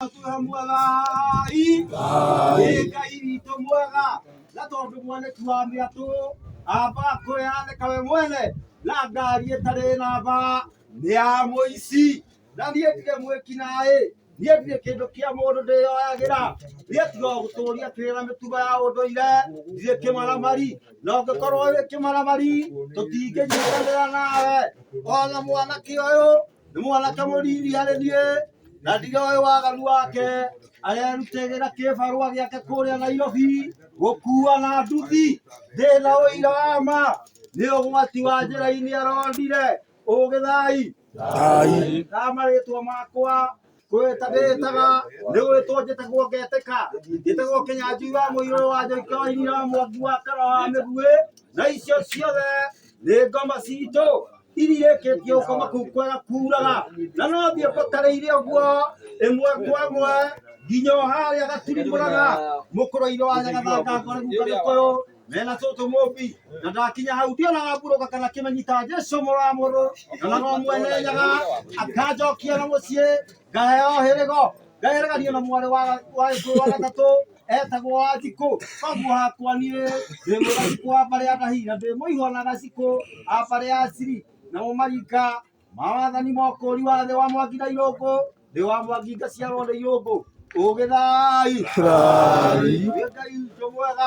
Mũtũra mwega i Ngai Ngai witũ mwega na tondũ mwanĩki wa mĩatũ amba kwĩyanĩka we mwene na ngari ĩtarĩ namba nĩ ya mũici na niĩ ndirĩ mwĩki naĩ niĩ ndirĩ kĩndũ kĩa mũndũ ndĩyoyagĩra niĩ tiga o gũtũria kĩrĩra mĩtugo ya ũndũire ndirĩ kĩmaramari na ũngĩkorwo wĩ kĩmaramari tũtingĩnyitanĩra nawe ona mwanake ũyũ nĩ mwanake mũnini harĩ niĩ na ndigoĩ waganu wake arerutegĩra kĩbarũa gĩake kũrĩa Nairobi gũkua na nduthi thĩna ũira wa ma nĩ ũgwati wa njĩra-inĩ arondire ũgĩthai thai na marĩtwa makwa kwĩta ndĩtaga nĩ gwĩtwo njĩtagwo ngetĩka njĩtagwo kĩnyanjui wa mũirũ wa njoika wa iria wa mwangi wa kara wa mĩguĩ na icio ciothe nĩ ngoma citũ irĩkĩtie gũkoma kũu kwega kuuraga na no thiĩ kũtarĩire ũguo ĩmwe kwa ĩmwe nginya o harĩa gaturimũraga mũkũrũ-inĩ wa nyagathanga ngore guka gĩkũyũ mena tũtũ mũmbi na ndakinya hau ndionaga ngurũka kana kĩmenyita jesu mũrũ wa mũrũ na no mwene nyaga akanjokia na mũciĩ ngaheo hĩrĩgo ngahereganio na mwarĩ wa wa gĩkũyũ wa gatatũ etagwo wa thikũ koguo hakwa niĩ ndĩ mũgathikũ wa mbarĩ ya ndahi na ndĩ mũihũ na gacikũ a mbarĩ ya ciri namo maringa mawathani mokũri wa thĩ wa mwangi na irũngũ thĩ wa mwangi ngaciarwo nĩ irũngũ ũgĩthai Thai. Ngai witũ mwega